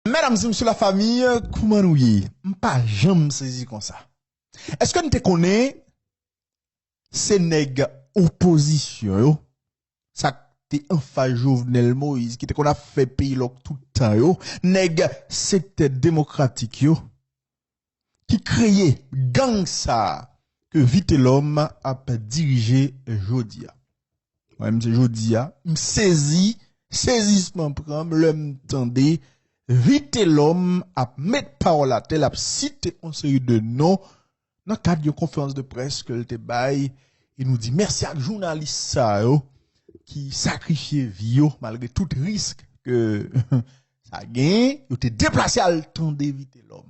Medam se msye la famille kouman nou ye m pa janm sezi konsa eske n te konnen se neg opozisyon yo sak te anfas jovenel moise ki te konn ap fè peyi lòk tout tan yo neg sektè demokratik yo ki kreye gang sa ke Vitelòm ap dirije jodi a. Mwen menm se jodi a, m sezi, sezisman pran m lè m tande Vitelòm ap met pawòl atè, l ap site yon seri de non nan kad yon konferans de près ke l te bay e nou di mèsi ak jounalis sa yo ki sakrifye vi yo malgre tout risk ke Sa gen, yo te deplase al tande Vitelòm.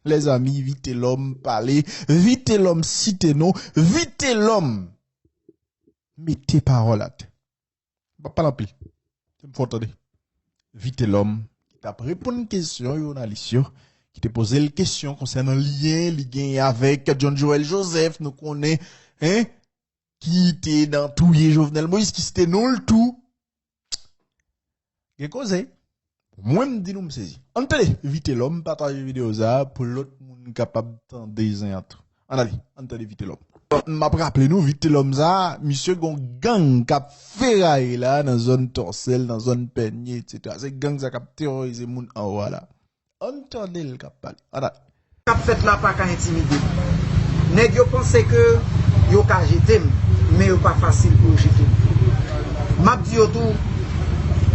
Lèzanmi, Vitelòm pale, Vitelòm site non, Vitelòm mete pawòl atè. M pa pale anpil, se m fè w tande. Vitelòm ki t ap reponn kesyon jounalis yo, ki te poze l kesyon konsènan lyen li genyen avèk John Joël Joseph, nou konnen, ki te nan touye Jovenel Moïse, ki site non l tou. Gen koze. Mwen m di nou m sezi. An tele, vite lòm, pataje video sa pou lòt moun kapab tande zen an tou. An ale, an tele vite lòm. M ap raple nou vite lòm sa, misye gon gang kap feraye la nan zòn tòsèl, nan zòn pènye etc. Se gang sa kap terorize moun anwa la. Ann tande l kap pale. Ann ale. Kap fèt la pa ka entimide m. Nèg yo panse ke yo ka jete m, men yo pa fasil pou yo jete m. Map di yo tou,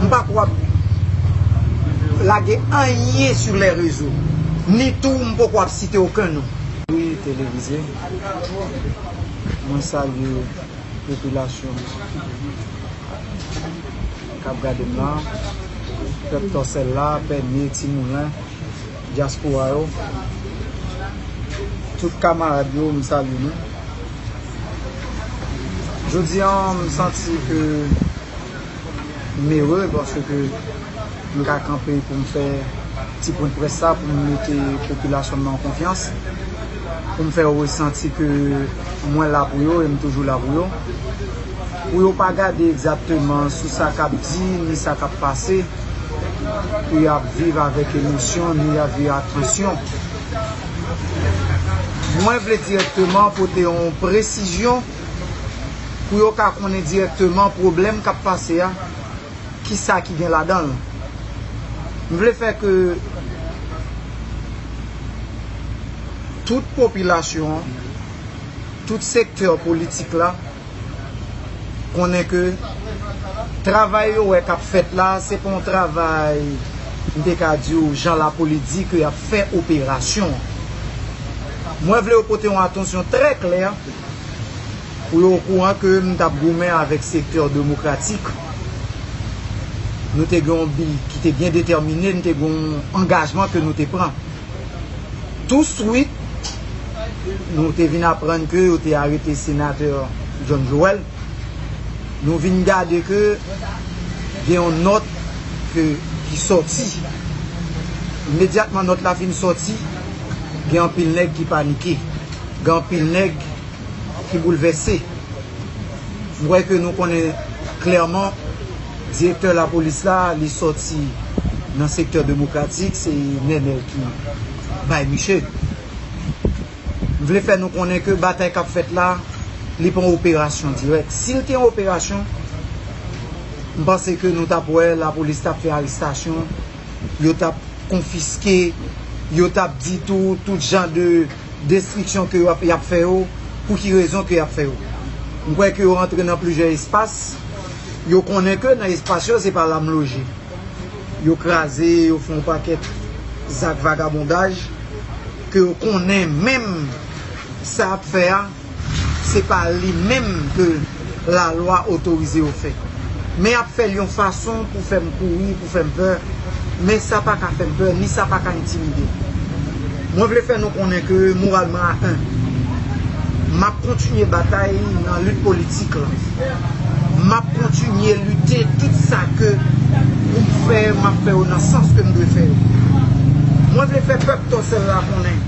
m pa kwè w ap lage anyen sou lè rezo, ni tou m poko ap site oken non. Wi televize, mwen salye popilasyon an. kap gadem la pèp tòsèl la bènye ti moulen dyaspora yo tout kamarad yo m salye nou jodi an m santi ke m ere paske ke m ka kanpe pou m fè ti pwen près sa pou m mete popilasyon m nan konfyans. pou m fè yo resanti ke mwen la pou yo e m toujou la pou yo. Pou yo pa gade egzakteman sou sa k ap di ni sa k ap pase, pou y ap viv avèk emosyon ni y ap viv ak tansyon. Mwen vle dirèkteman pote yon presizyon pou yo ka konnen dirèkteman pwoblèm k ap pase a. Kisa ki gen ladanl? M vle fè ke tout popilasyon an, tout sektè politik la konnen ke travay yo wè kap fèt la se pa yon travay m te ka di w jan lapoli di ke yap fè operasyon. Mwen vle yo pote yon atansyon trè klè. Ou yo okouran ke m tap goumen avèk sektè demokratik. Nou te gen yon bi ki te byen detèmine, nou te gen yon angajman ke nou te pran. Tou swit, nou te vin aprann ke yo te arete senatè John Joel. Nou vin gade ke gen yon nòt ke ki sòti. Imedyatman nòt la fin sòti, gen anpil nèg ki panike. Gen anpil nèg. ki boulvèse. M kwè ke nou konnen klèman direktè lapolis la, li sòti nan sektè demokratik, se Nenel ki bay miche. M vle fè nou konnen ke batay k ap fèt la, li pa yon operasyon dirèk. Si l te yon operasyon, m panse ke nou t ap wè lapolis t ap fè arestasyon, yo t ap konfiske, yo t ap di tou tout jan de. destriksyon ke yo ap fè yo, pou ki rezon ke yo ap fè yo. M kwè ke yo antre nan plizyè espas, yo konnen ke nan espas yo se pa la m loje. Yo kraze, yo fè yon pakèt zak vagabondaj, ke yo konnen menm sa y ap fè a, se pa li menm ke la lwa otorize yo fè. Men yap fèl yon fason pou fèm kouri, pou fèm pè, men sa pa ka fèm pè, ni sa pa ka entimidem. Mwen vle fè nou konnen ke moral mwen a 1. Map kontinye batay nan lit politik lan. Map kontinye lite tout sa ke poum fè, map fè yo nan sans kem dwe fè yo. Mwen vle fè pèp Tòsèl la konnen,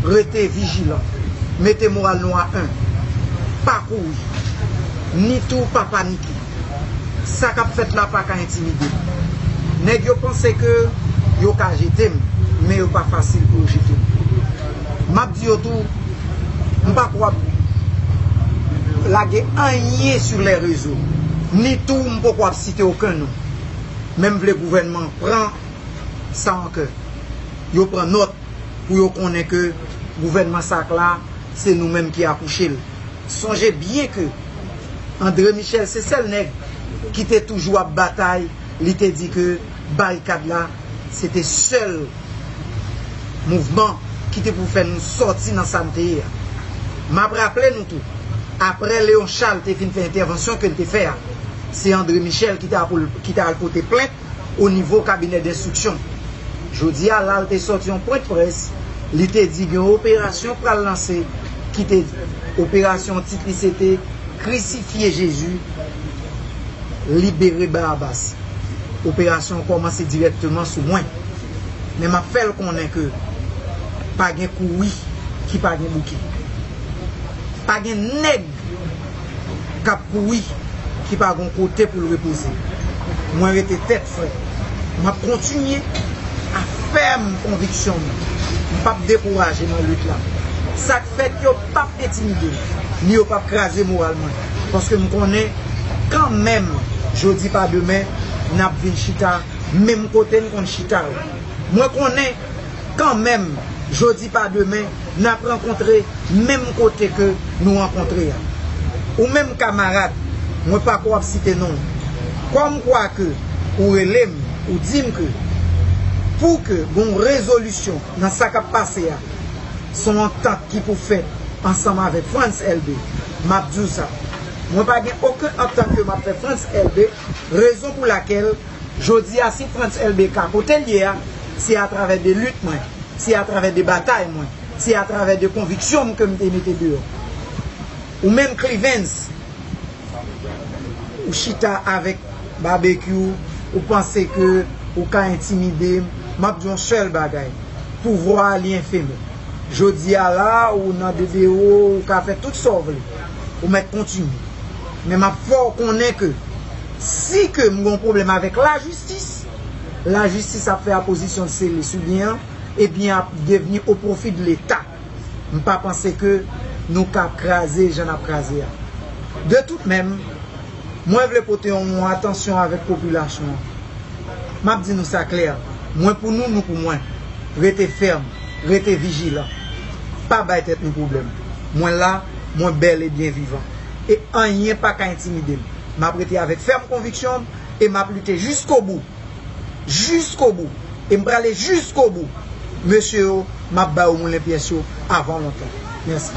rete vijilan. Mete moral nou a 1. Pa kouri. Ni tou pa panike. Sa k ap fèt la pa ka entimide m. Nèg yo panse ke yo ka jete m, men yo pa fasil pou yo jete m. M ap di yo tou, m pa ko ap lage anyen sou lè rezo, ni tou m poko ap site oken non. Men m vle gouvènman an pran sa an kè. Yo pran nòt. pou yo konnen ke gouvènman sak la se nou menm ki akouche l. Sonje byen ke Andre Michel se sèl nèg ki te toujou ap batay li te di ke barikad la se te sèl mouvman ki te pou fè nou sòti nan sa n te ye a. M ap raple nou tou, apre Leon Charles te fin fè entèvansyon ke l te fè a, se Andre Michel ki ta al pote plent o nivo kabinè denstriksyon. Jodi a la l te sòti yon pwen de près, li te di gen yon operasyon k pral lanse ki te operasyon tit li se te krisifye Jezi, libere Barabas. Operasyon an kòmanse dirèkteman sou mwen. Men m ap fè l konnen ke pa gen kouri ki pa gen bouke. Pa gen nèg. kap kouri ki pa gon kote poul repoze mwen rete tèt frè map kontinye a fèm konviksyon m m pap dekouraje nan lit la sak fèt yo pap entimidem ni yo pap kraze moral mwen paske m konnen kan menm jodi pa demen nap vin chita menm kote n konn chita yo mwen konnen kanmenm jodi pa demen nap rankontre menm kote ke nou rankontre a. Ou menm kamarad, mwen pako ap site non ou, kòm kwa ke ou rele m ou di m ke pou ke gon rezolisyon nan sa kap pase a son antant ki pou fèt ansanm avèk Frantz Elbe, map di w sa, mwen pa gen oken antant ke map fè Frantz Elbe, rezon pou lakèl. Jodi a si Frantz Elbe ka kote l ye a, se atravè de lit mwen, se atravè de batay mwen, se atravè de konviksyon m ke m te mete deyò. Ou menm Clivens, ou chita avèk Babekyou, ou panse ke ou ka entimide m, m ap di w yon sèl bagay, pouvwa a li enfeme. Jodi a la a ou nan DDO, ou ka fè tout sa w vle, ou mèt kontinye. Men m ap fè w konnen ke. Si ke m gon pwoblèm avèk lajistis, lajistis ap fè apozisyon l sele sou byen an e byen an ap devni o pwofi de leta. M pa panse ke nou ka kraze jan n ap kraze a. De tout menm, mwen vle pote yon atansyon avèk popilasyon an. M ap di nou sa klè, mwen pou nou, nou pou mwen. Rete fèm, rete vijilan. Pa bay tèt nou pwoblèm. Mwen la, mwen bèl e byen vivan. E anyen pa ka entimide m. M ap rete avèk fèm konviksyon m e m ap lite jiskobou. Jiskobou. E m prale jiskobou. Mesye yo, m ap ba yo moulen pyès yo avan lontan. Mèsi.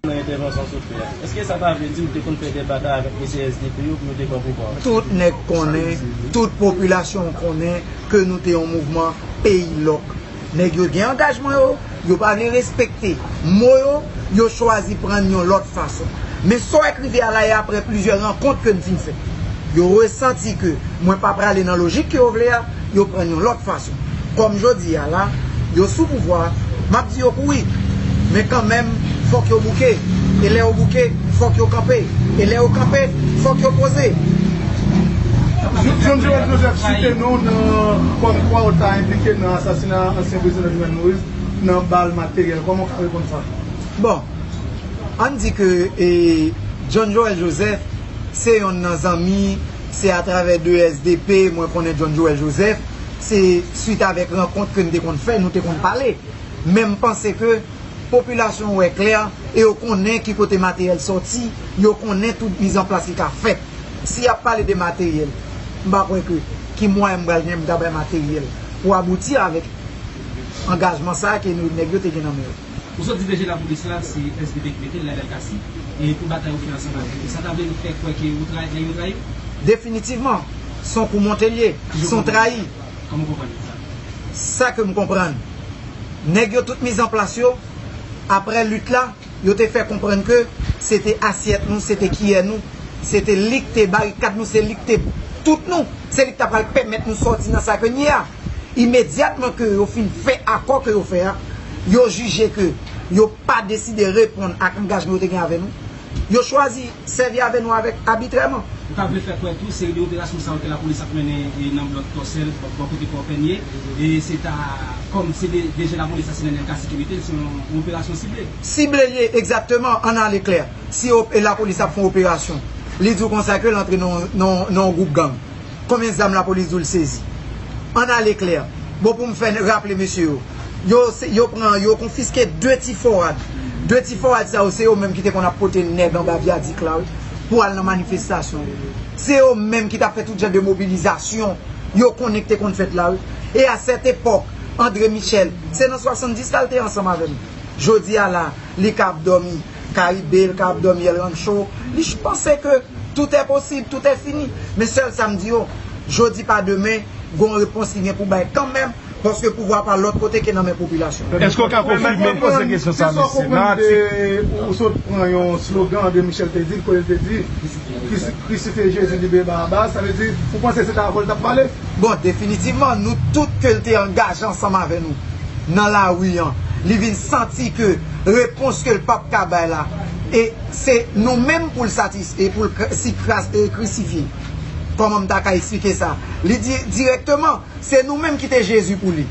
Nan entèvansyon sot fè a, èske sa ta vle di ou te konn fè dè batay avèk mesye SDP yo pou yo te pran pouvwa a? Tout nèg konnen, tout popilasyon an konnen ke nou te yon mouvman peyi lòk. Nèg yo gen angajman yo, yo pa vle respekte mo yo, yo chwazi pran n yon lòt fason. Men sa w wè k rive a la e aprè plizyè rankont ke n fin fè, yo resanti ke mwen pa prale nan lojik ke yo vle a, yo pran n yon lòt fason. Kòm jodi a la, yo sou pouvwa, m ap di yo kouri, men kanmenm fòk yo bouke, e lè yo bouke, Fòk yo kanpe. E lè yo kanpe, fòk yo poze. John Joel Joseph site non w nan kòm kwa w ta enplike nan asasina ansyen prezidan Jovenel Moise nan bal materyèl. Kòman w ka reponn sa? Bon, an n di ke John Joel Joseph se yonn nan zanmi, se atravè de SDP mwen konnen John Joel Joseph, se swit avèk rankont ke n te konn fè, nou te konn pale. Men m panse ke. Popilasyon wè klè e yo konnen ki kote materyèl sòti, yo konnen tout mizanplas ki ka fèt. Si y ap pale de materyèl, m pa kwè ke ki mwayen m pral gen pou m ta bay materyèl pou abouti avèk angajman sa a ke nou nèg yo te gen nan men yo. Ou sot di DG Lapolis la se svp ki mete l la Delcassy e pou batay ou fè ansanm avèk yo. Sa ta vle nou fè kwè ke ou trayi, nèg yo trayi w? Definitivman, s on kou monte l ye, s on trayi. Kòman w konprann sa? Sa ke m konprann. Nèg yo tout miz an plas yo, aprè lit la, yo te fè konprann ke se te asyèt nou, se te kiyè nou, se te li k te barikad nou, se li k te tout nou, se li k ta pral pèmèt nou sòti nan sa ke n ye a. Imedyatman ke yo fin fè akò ke yo fè a, yo jije ke yo pa deside reponn ak angajman yo te gen avè nou, Yo chwazi sèvi avè nou avèk abitrèman. Ou ta vle fè kwè tou seri de operasyon sa yo ke lapolis ap mennen nan blòk Tòsèl, bò kote Pò Pènye, se ta kòm se de je lapolis la se nan delta sekirite l, se yon operasyon sible. Sible l ye, egzakteman, ann ale klè. Si lapolis ap fè yon operasyon, li di w konsa ke l antre nan yon gwoup gang. Konbyen zam lapolis di w l sezi? Ann ale klè. Bon pou m fè raple mesye yo. Yo yo pran yo konfiske 2 ti forad. 2 ti forad sa yo se yo menm ki te konn ap pote nèg anba vyadik la wi pou al nan manifestasyon. Se yo menm ki t ap fè tout jan de mobilizasyon yo konnen ki te konn fèt la wi. E a sèt epòk André Michel se nan 70 la l te ansanm avè m. Jodi a la li ka ap dòmi. Caribe lka ap domi el rancho li ch panse ke tout è posib tout è fini men sèl sam di yo jodi pa demen gon repons li gen pou bay kanmenm paske pouvwa pa lòt kote ke nan men popilasyon. Eske w ka konfime se sa w konprann de ou sot pran yon slogan André Michel te di l kote l te di krisifye Jezi libere Barabas sa vle di ou panse se ta avè w l tap pale? Bon, definitivman, nou tout ke l te angaje ansanm avè nou nan lari an, li vin santi ke repons ke l p ap ka bay la, e se nou menm pou l satis, e pou l krisifye. Kòman m ta ka eksplike sa? Li di dirèkteman, se nou menm ki te Jezi pou li.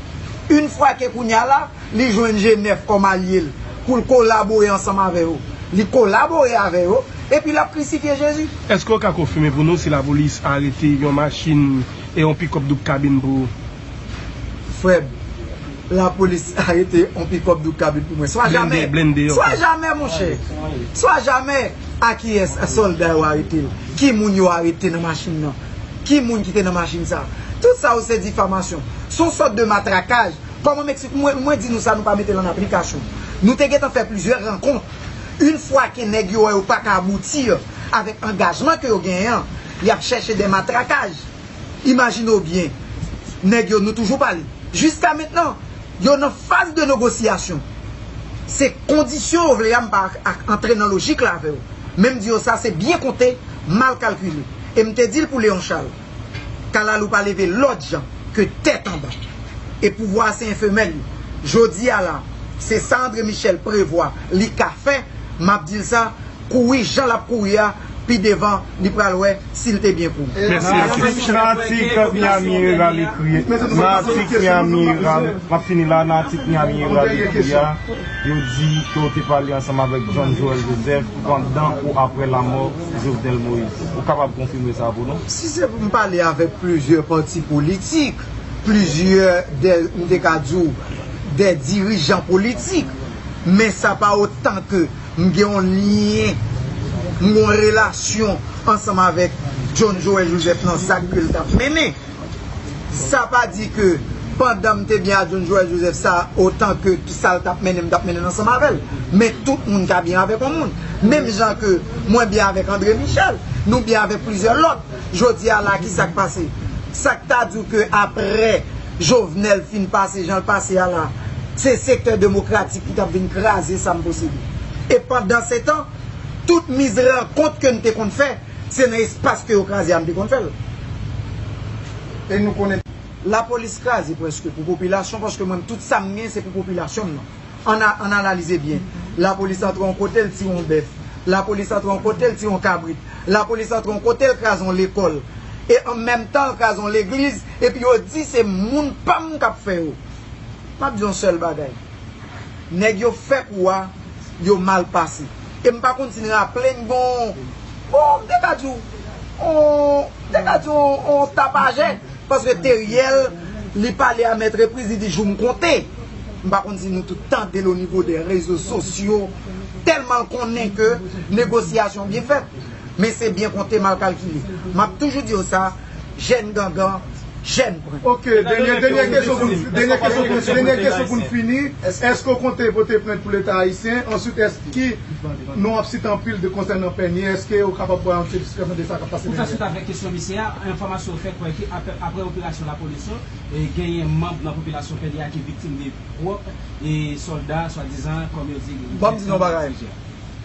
Une fwa ke kounye a la, li jwenn Jenèf kòm alye l pou l kolabore ansanm avè yo. Li kolabore avè yo, epi l ap krisifye Jezi. Èske w ka konfime pou nou si lapolis arete yon machin e yon pikòp doub kabin pou ou? Frè m, lapolis arete yon pikòp doub kabin pou mwen. Swa jamè! Swa jamè, monchè! Swa jamè! A kiyès sòlda yo arete l? Ki moun yo arete nan machin nan? Ki moun ki te nan machin sa a? Tout sa yo se difamasyon. S on sòt de matrakaj Kòman Meksik mwen mwen di nou sa nou pa mete l an aplikasyon. Nou te gentan fè plizyè rankont. Une fwa ke nèg yo wè yo pa ka aboutir avèk angajman ke yo genyen an, y ap chèche dè matrakaj. Imajine w byen, nèg yo nou toujou pale. Jiska mentnan, yo nan faz de nogosiyasyon. Se kondisyon ou vle a m pa ak antre nan lojik la avè w. Men m di yo sa se byen konte, mal kalkile. E m te di l pou Léon Charles. Kalalou pa leve lòt jan ke tèt anba. E pouvwa a se enfemèl yo. Jodi a la, se sa Andre Michèl prevwa li ka fè, m ap di l sa, kouri jan l ap kouri a, pi devan li pral wè si l te byen kouri. Mèsi Atis. Nan atik Miami Herald ekri Nan atik Miami Herald M ap fini la Nan atik Miami Herald ekri a, yo di ke w te pale ansanm avèk John Joël Joseph pandan ou aprè lamò Jovenel Moise. Ou kapab konfime sa pou nou? Si se pou m pale avèk plizyè pati politik, plizyè dè, m te ka di w, dè dirijan politik, men sa pa otan ke m gen yon lyen, m gen yon relasyon ansanm avèk John Joël Joseph nan zak ke l t ap mennen. Sa pa di ke pandan m te byen ak John Joël Joseph sa otan ke sa l t ap mennen m t ap mennen l ansanm avè l. Men tout moun ka byen avèk yon moun. Menm jan ke mwen byen avèk André Michel. Nou byen avèk plizyè lòt. Jodi a la ki sa k pase? Sa k ta di w ke aprè Jovenel fin pase jan l pase a la, se sektè demokratik ki t ap vin kraze sa m posede? E pandansetan, tout miz rankont ke n te konn fè, Se nan espas ke yo kraze a m te konn fè l. E nou konnen. Lapolis kraze preske pou popilasyon paske mwen tout sa m gen se pou popilasyon m nan. An a an analize byen. Lapolis antre yon kote l tire yon bèf. Lapolis antre yon kote l tire yon kabrit. Lapolis antre yon kote l kraze yon lekòl. E an menm tan l kraze yon legliz epi yo di se moun pa m k ap fè yo. M ap di yon sèl bagay. Nèg yo fè kou a yo mal pase. E m pa konn si n raple n gen on bon m te ka di w on m te ka di w on tapajè paske Theriel li pale a mèt repriz li di jou m konte. M pa konn si nou tout tande l onivo dè rezo sosyo tèlman l konnen ke negosyasyon byen fèt men se byen konte mal kalkile. M ap toujou di yo sa. Jèn gangan, jèn pran. Ok, dènyè kesyon pou nou, dènyè kesyon pou nou, dènyè kesyon pou nou fini, èske ou konte pote plent pou leta ayisyen? Answit èske ki nou ap site anpil de konsènan Pènye, èske ou kapab bay yon ti esplikasyon de sa kap pase Pou fè dènyè? swit avèk kesyon misye a, enfòmasyon fè kwè ke aprè operasyon lapolis yo, genyen manb nan popilasyon Pènye a ki viktim de pwòp sòlda swadizan kòm yo di Banm di nou yon bagay.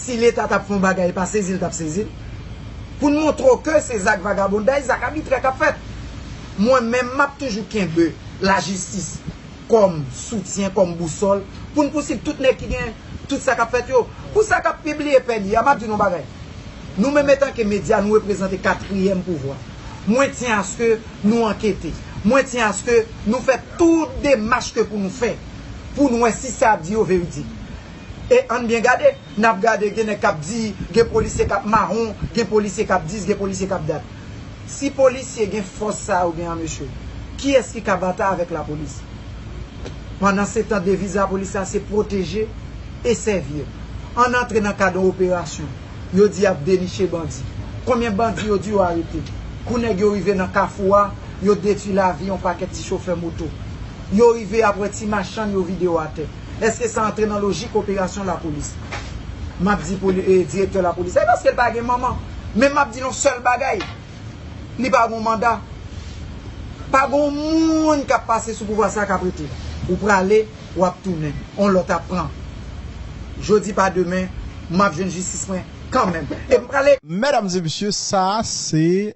Si leta tap fè yon bagay epa sezi l tap sezi l. Pou n montre w ke se zak vagabonday, zak abitrè kap fèt. Mwen menm map toujou kenbe lajistis kòm soutyen, kòm bousòl pou n pousiv tout nèg ki gen tout sa kap fèt yo. Pou sa kap pibliye pè li a, map di nou yon bagay. Nou menm etanke medya nou reprezante katriyèm pouvwa. Mwen tyen aske nou ankete. Mwen tyen aske nou fè tout demach ke pou nou fè pou n wè si sa yap di yo veridik. E ann byen gade, n ap gade gen nèg k ap di, gen polisye k ap mawon, gen polisye k ap dis, gen polisye k ap dat. Si polisye gen fòs sa yo gen an mesye, kiyès ki ka batay avèk lapolis? Pandansetan deviz lapolis la se pwoteje e sèvir. Ann antre nan kad yon operasyon, yo di y ap deniche bandi. Konbyen bandi yo di yo arete? Kou nèg yo rive nan kafou a, yo detui lavi yon pakèt ti chofè moto. Yo rive ap wè ti machann yo vide yo atè. Eske sa antre nan lojik operasyon lapolis? M ap di direktè lapolis la e paske l pa gen manman. Men m ap di l yon sèl bagay, li pa gen yon manda. Pa gen yon moun k ap pase sou pouvwa sa a k ap rete. Ou prale, w ap tounen. Yon lòt ap pran. Jodi pa demen, m ap jwenn jistis mwen kanmenm. E m prale. Medam e mesye, sa a se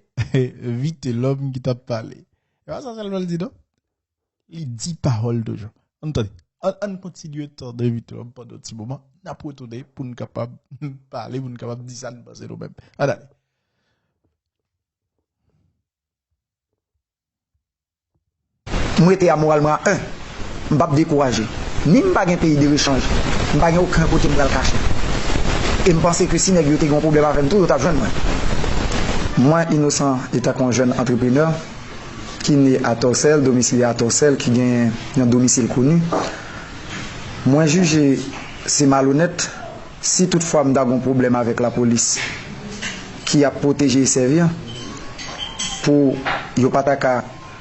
Vitelòm ki t ap pale. E pa sa sèlman l di non. Li di pawòl toujou. Ann tande. An, ann kontinye tande Evite Lòm pandan yon ti moman. N ap retounen pou n kapab pale, pou n kapab di sa n panse nou menm. Ann ale. M rete a moral mwen a 1. M p ap dekouraje. Ni m pa gen peyi derechanj, m pa gen oken kote m pral kache. E m panse ke si nèg yo te gen yon pwoblèm avè m tou, yo t ap jwenn mwen. Mwen inosan etan ke yon jèn antreprenè, ki ne a Tòsèl, domisilye a Tòsèl, ki genyen yon domisil koni, mwen jije se malonèt si tout fwa m ta gon pwoblèm avèk lapolis ki ap pwoteje e sèvi an pou yo pa ta ka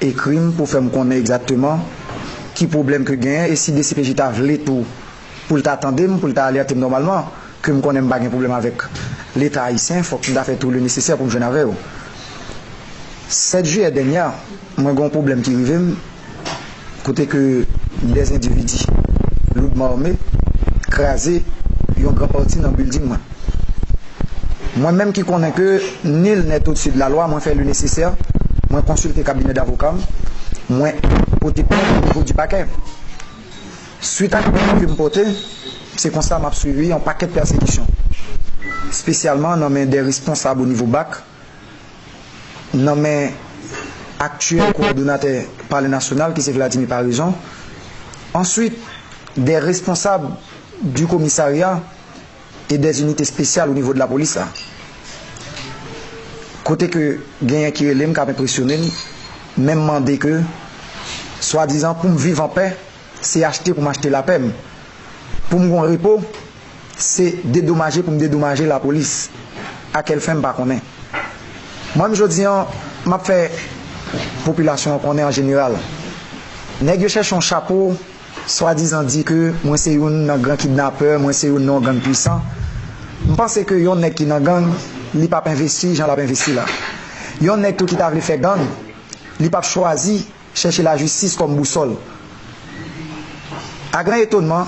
ekri m pou fè m konnen egzakteman ki pwoblèm ke genyen e si dcpj ta vle tou pou l ta tande m, pou l ta alerte m nòmalman, ke m konnen m pa gen pwoblèm avèk Leta ayisyen, fòk m ta fè tou lenesesè pou m jwenn avè yo. 7 jiyè dènyè a, mwen gen yon pwoblèm ki rive m, kote ke dè endividi loudman ame kraze yon gran pati nan bilding mwen. Mwen menm ki konnen ke nul n'est au-dessus de la loi, mwen fè lenesesè, mwen konsilte kabinè davoka m, mwen pote plent o nivo di pakè. Swit ak plen ke m pote, se konsa m ap sibi yon pakèt pèsekisyon, spesyalman nan men de responsab o nivo bac, nan men aktyèl kowòdonatè Palè Nasyonal ki se Vladimir Paraison, answit de responsab du komisarya e des unités spéciales o nivo de lapolis la. Kote ke genyen ki rele m, k ap enpresyone m, men mande ke swadizan pou m viv an pè, Se achte pou m achte lapè m. Pou m gon repo, se dedomaje pou m dedomaje lapolis. A kèl fen m pa konnen. Mwen menm jodi an, m ap fè popilasyon an konnen an jeneral, nèg yo chèche yon chapo, swadizan di ke mwen se youn nan gran kidnapè, mwen se youn nan yon gang pwisan. M panse ke yon nèg ki nan gang, li p ap envesti jan l ap envesti la. Yon nèg tou ki ta vle fè gang, li p ap chwazi. Chèche lajistis kòm bousòl. A gran etonman,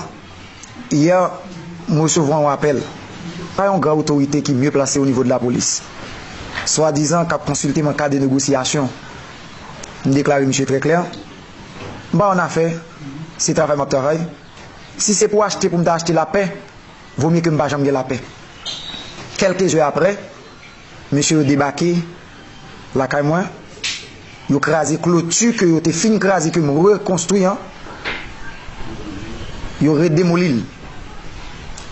yè, m resevwa yon apèl pa yon gran otorite ki mye plase onivo de lapolis, swadizan k ap konsilte m an ka de negosyasyon. M deklare misye trè klè, M pa annafè, se travay m ap travay. Si se pou achte pou m ta achte lapè, vomye ke m pa janm gen lapè. Kèlke zè aprè, Mesye yo debake lakay mwen, yo kraze kloti ke yo te fin kraze ke m rekonstwi an, yo redemoli l.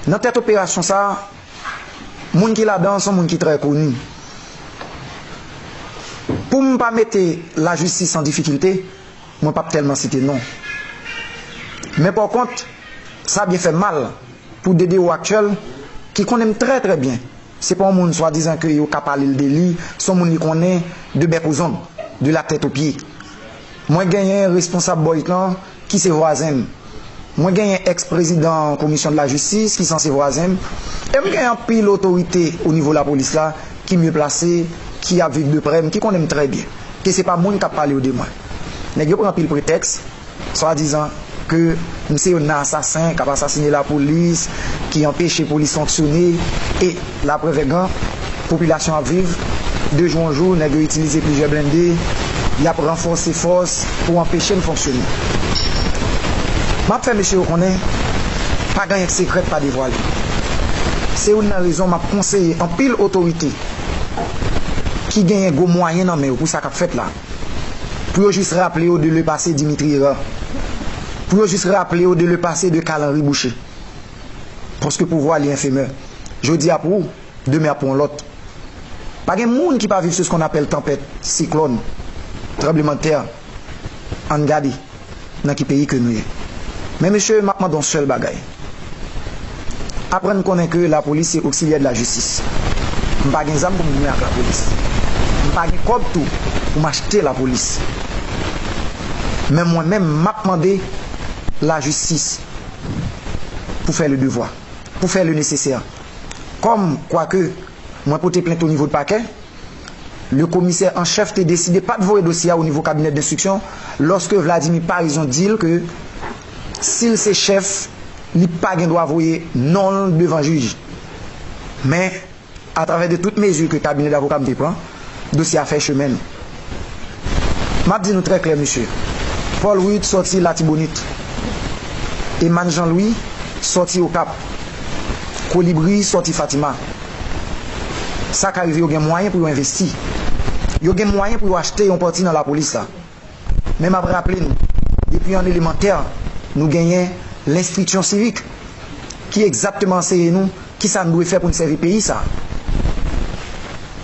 Nan tèt operasyon sa, moun ki ladan an son moun ki trè koni. Pou m pa mete lajistis an difikilte, mwen p ap tèlman site non. Men pòkont, sa byen fè m mal pou DDO aktyèl ki konnen m trè trè byen Se pa yon moun swadizan ke yo ka pale l de li, se yon moun li konnen de bèk ou zong, de la tèt o pye. Mwen genyen responsab Boys lan ki se vwazen m. Mwen genyen ex prezidan komisyon de la jistis ki sanse vwazen m. E m gen anpil otorite o nivo lapolis la ki mye plase, ki ap viv de prè m, ki konnen m trè byen. Ke se pa moun k ap pale yo de mwen. Nèg yo pran anpil pretèks. Swadizan ke nou se yon nan asasen kap asasine la polis, ki anpeche polis fonksyone e la prèv è gran popilasyon ap viv de jou an jou nèg yo itilize plizyè blende yap ranfòse fòs pou anpeche n fonksyone. Map fè mesye yo konnen pa gen anyen k sekrè k pa devwale. Se youn nan rezon map konseye anpil otorite ki genyen gwo mwayen nan men yo pou sa kap fèt la. Pou yo jis raple yo de le pase Dimitri Herard. Pou yo jis raple yo de le pase de Carl Henri Boucher. Paske pouvwa li enfemè. Jodi ap ou, demen ap pou yon lòt. Pa gen moun ki pa viv sou skonn apèl tanpèt, siklòn, tranblemanntè. Ann gade. nan ki peyi ke nou ye. Men mesye map mande yon sèl bagay. Aprann konnen ke lapolis se oksilyè de la jistis. M pa gen zam pou m goumen ak lapolis. M pa gen kòb tou pou m achte lapolis. Men mwen menm map mande lajistis pou fè le devwa, pou fè le nesesè. Kòm kwa ke mwen pote plent o nivo de pakè. Le komisè an chèf te deside pat voye dosye a o nivo kabinè denstriksyon lòske Vladimir Paraison di l ke si l se chèf li pa gen dwa voye non l devan jij. Men, atravè de tout mezi ke kabinè davoka m te pran, dosye a fè chemen l. M ap di nou trè klè mesye, Paul Ruth sòti Latibonit, Emman Jean Louis sòti Okap, Kolibri sòti Fatima. sa ka rive yo gen mwayen pou yo envesti, yo gen mwayen pou yo achte yon pati nan lapolis la. Men m ap raple nou, depi an elemantè, nou genyen lenstriksyon sivik, ki egzakteman anseye nou ki sa n dwe fè pou n sèvi peyi sa a.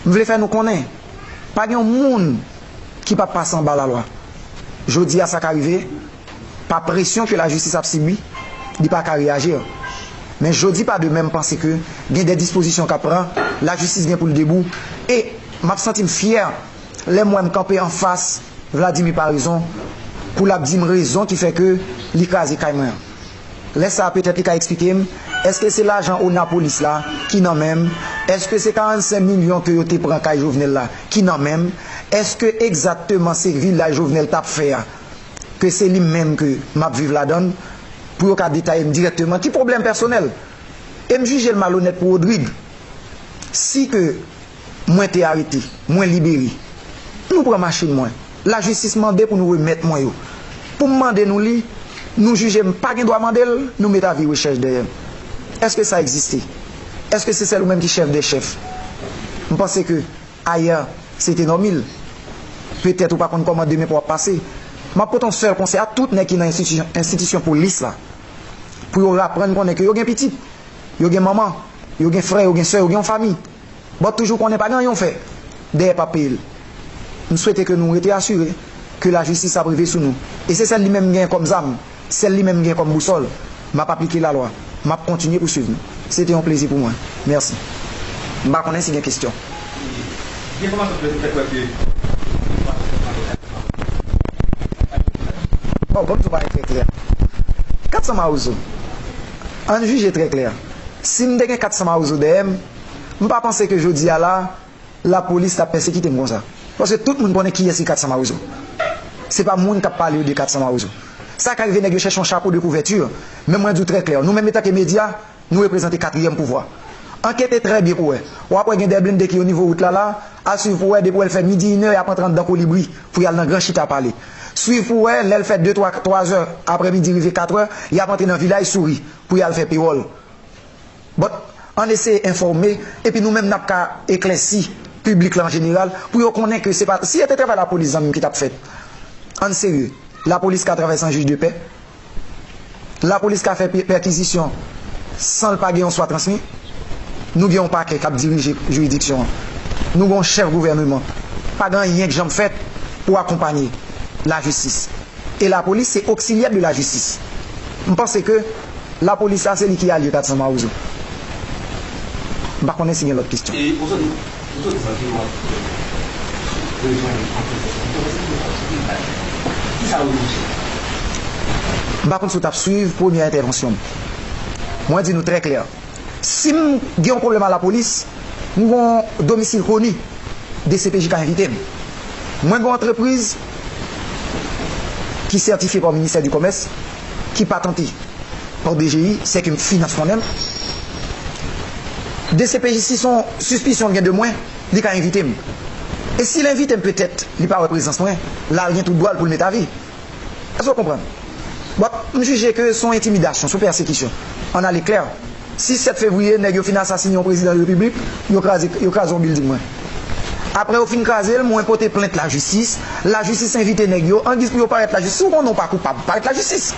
M vle fè nou konnen, pa gen yon moun ki pa pase anba lalwa. Jodi a sa ka rive. Pa presyon ke la jistis ap sibi, li pa ka reyajir. Men jodi pa demen m panse ke gen de dispozisyon k ap pran, la jistis gen pou l debou. E m ap santi m fyè lè m wè m kanpe anfas Vladimir Paraison pou l ap di m rezon ki fè ke li kraze kay mwen an. Lè sa a petèt li ka eksplike m, èske se lajan ona polis la ki nan men m? Èske se 45 milyon ke yo te pran kay Jovenel la ki nan men m? Èske egzakteman se vilaj Jovenel t ap fè a? ke se li menm ke m ap viv ladan l, pou yo ka detaye m dirèkteman ki pwoblèm pèsonèl. E m jije l malonèt pou Rodrigue. Si ke mwen te arete, mwen libere, nou pran machin mwen, lajistis mande pou nou remèt mwen yo. Pou m mande nou li, nou jije m pa gen dwa mande l, nou met avi rechèch dèyè m. Èske sa egziste? Èske se sèl ou menm ki chèf dè chèf? M panse ke. Ayè, se te Normil. Petèt ou pa konn kòman demen pou ap pase. M ap pote yon sèl konsèy a tout nèg ki nan enstitisyon polis la, pou yo raprann konnen ke yo gen pitit, yo gen manman, yo gen frè, yo gen sè, yo gen yon fami. Bòt toujou konnen pa gen anyen ou fè, dèyè pa peye l. M swete ke nou rete asire ke lajistis ap rive sou nou. E se sèl li menm m genyen kòm zam. Sèl li menm m gen kòm bousòl. M ap aplike lalwa. M ap kontinye pou swiv nou. Se te yon plezi pou mwen. Mèsi. M pa konnen si gen kesyon. Gen enfòmasyon ki fè kwè ke Bondye te mande 400 mawozo. Oh, Bondye pale trè klè. 400 mawozo. An n jije trè klè. Si m te gen 400 mawozo dèyè m, m pa panse ke jodi a la, La police tap pèsekite m konsa. Paske tout moun konnen kiyès ki 400 mawozo. Se pa moun kap pale yo de 400 mawozo. Sa ka rive nèg yo chèche yon chapo de couverture, men mwen di w trè klè, nou menm etanke medya, nou reprezante katriyèm pouvwa. Ankete trè byen pou wè. Wap wè gen 2 blende ki o nivo wout la la, al swiv pou wè depi wè l fè midi inè yap antre anndan kolibri pou yal nan gran chita pale. Swiv pou wè lè l fè de twa, 3 zè aprè midi rive 4 è, yap antre nan vilaj souri pou yal fè pewòl. But, ann eseye enfòme epi nou menm nap ka eklèsi piblik la an jeneral pou yo konnen ke se pa, si e te travay lapolis zanmi m ki tap fèt, ann serye, lapolis ka travay san jij de pè, lapolis ka fè pèkizisyon san l pa gen yon swa transmi, nou gen yon pakè kap dirije jiridiksyon an, nou gen yon chèf gouvèneman, pa gen anyen k janm fèt pou akonpanye lajistis e lapolis se oksilyè de lajistis, m panse ke. La police la se li ki alye 400 mawozo. M pa konnen si gen lòt kestyon. E ou sòti ou sòti san ki wap rejwenn anpil fòs moun konnen se pou yo fòs moun ki bay ki sa ou jije la. M pa konn si w tap swiv premyè entèvansyon m. Mwen di nou trè klè si m gen yon pwoblèm a la polis m gen yon domisil koni dcpj ka envite m. Mwen gen yon antrepriz ki sètifye pa ministè di komès. ki patante pa dgi se ke m finans konnen l. Dcpj si son sispisyon l gen de mwen, li ka envite m. E si l envite m petèt li pa wè prezans mwen, la l gen tout dwa l pou l met avi. Èske w konprann? Bon, m jije ke son entimidasyon, son pèsekisyon. An ale klè. Si 7 fevriye nèg yo fin asasine yon prezidan repiblik, yo kraze yo kraze yon bilding mwen. Aprè yo fin kraze l, mwen pote plent lajistis, lajistis envite nèg yo, angiz pou yo parèt lajistis, si w konnen w pa koupab, parèt lajistis.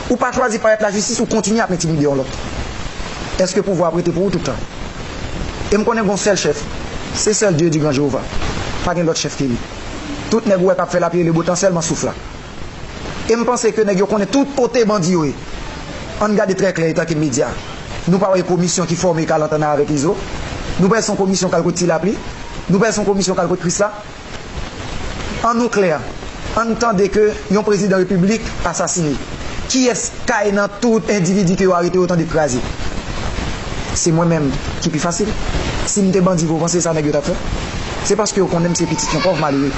Ou pa chwazi parèt lajistis, ou kontinye ap entimide yon lòt. Èske pouvwa a prete pou ou tout tan? E m konnen gen yon sèl chèf, se sèl Dye di gran Jewova. Pa gen lòt chèf ke li. Tout nèg ou wè k ap fè lapli e lebotan sèlman souf la. e m panse ke nèg yo konnen tout kote bandi yo ye. Ann gade trè klè etanke medya. Nou pa wè yon komisyon ki fòme kal antann avèk Izo? Nou pè son komisyon kal kot Ti Lapli? Nou pè son komisyon kal kot Krisla? An nou klè, ann tande ke yon prezidan repiblik asasine. Kiyès kay nan tout endividi ke yo arete yo tande k kraze? Se mwen menm ki pi fasil. Si m te bandi vre ou panse se sa nèg yo t ap fè? Se paske yo konnen m se pitit yon pòv malere.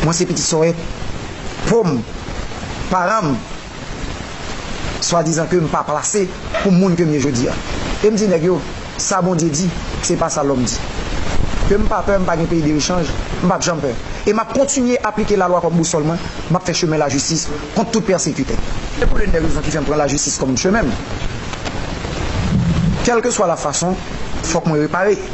Mwen se pitit sòrèt pom paranm swadizan kem pa plase pou moun kem ye jodia em di nèg yo sa Bondye di se pa sa lòm di kem pa pè mpa gen peyi derechanj mpap janm pè e map kontinye aplike lalwa kòm bousòl mwen map fè chemen lajistis kont tout pèsekitè. Se pou l'une des raisons ki fèm pran lajistis kòm chemenm kèlkeswa la fason fòk mwen repare.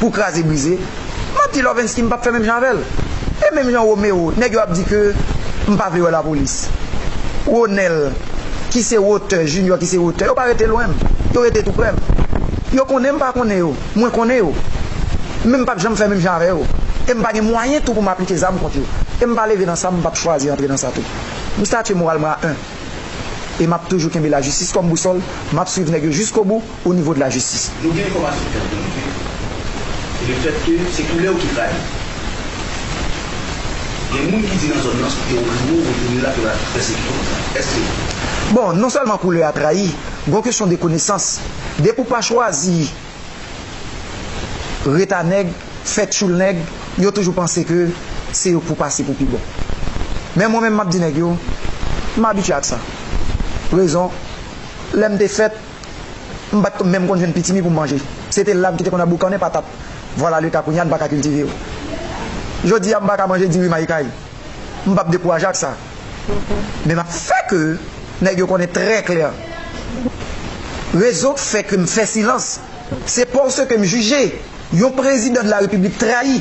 pou kraze brize map di Lorvensky mpap fè menm jan avèl e menm jan Romero nèg yo ap di ke mpa vle wè lapolis Ronel ki se wotè Junior ki se wotè yo pa rete lwenm yo rete tou prèm yo konnen mpa konnen yo mwen konnen yo men mpap janm fè menm jan avè yo e mpa gen mwayen tou poum aplike zam kont yo e mpa leve nan sa mpap chwazi antre nan sa tou mstatye moral mwen a 1 e map toujou kenbe lajistis kòm bousòl map swiv nèg yo jiskobou. o nivo de la jistis. Nou gen enfòmasyon ki antre nou ke e le fèt ke se koulè w ki trayi w. Gen moun ki di nan zòn nan si w te ouvri bouch w ou tounen la ke yo ta pèsekite w konsa. Èske se vre? Bon, non sèlman koulè a trayi, gon kesyon de konesans. Depi w pa chwazi ret a nèg, fè tchoul nèg, yo toujou panse ke se yo pou w pase pou pi bon. Men mwen menm m ap di nèg yo, m abitye ak sa. Rezon, lè m te fèt, M pa t menm konn jwenn pitimi pou m manje. Se te la m ki te konn ap boukannen patat. Vwalaleka kounye a n pa ka kiltive yo. Jodi a m pa ka manje diri mayi kay. M p ap dekouraje ak sa. Men m ap fè ke nèg yo konnen trè klè. Rezon k fè ke m fè silans, se paske m jije yon prezidan de la repiblik trayi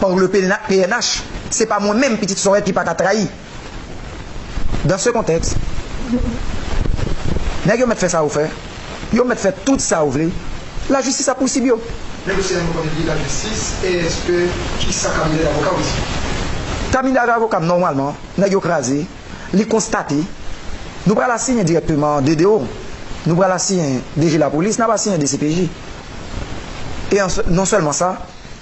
par le pnh. Se pa mwen menm pitit Sorèl ki pa ka trayi. Dans ce contexte, nèg yo mèt fè sa yo fè, yo mèt fè tout sa yo vle, la justice ap pousib yo. Nèg yo se yon kote ki la jistis e eske ki sa kabinè davoka ou di? Kabinè davoka m nòmalman nèg yo kraze, li konstate, nou pral asiyen dirèkteman DDO, nou pral asiyen DG lapolis, n ap asiyen dcpj e non sèlman sa,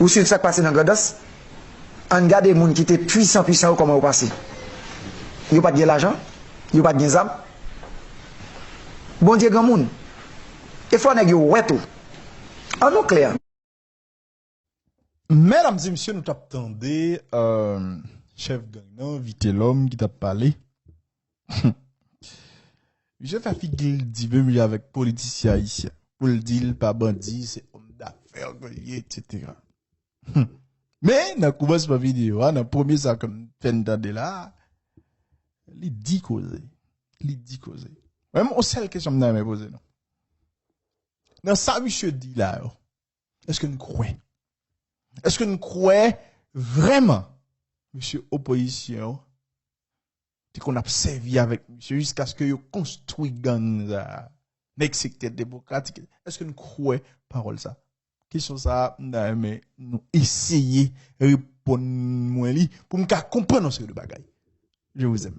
Ou swiv sak pase nan Grandans? Ann gade moun ki te pwisan pwisan yo kòman yo pase. Yo pat gen lajan, yo pat gen zam. Bondye granmoun. E fò nèg yo wè tou. An nou klè. Medam e mesye nou tap tande chèf gang nan Vitelòm ki tap pale. Misye fè figi l di menm jan avèk politisyen ayisyen pou l di l pa bandi se òm dafè ke l ye eksetera. Men nan koumansman videyo a nan premye sa ke m fè n tande la a li di koze li di koze men m gon sèl kesyon m ta renmen poze nou nan sa misye di la yo èske n kwè èske n kwè vrèman misye opozisyon te konn ap sèvi avèk misye jiskaske yo konstwi gang sa a. Nèg sektè demokratik, èske n kwè pawòl sa a? Kesyon sa a, m ta renmen nou eseye reponn mwen li pou m ka konprann yon seri de bagay. Je vous aime.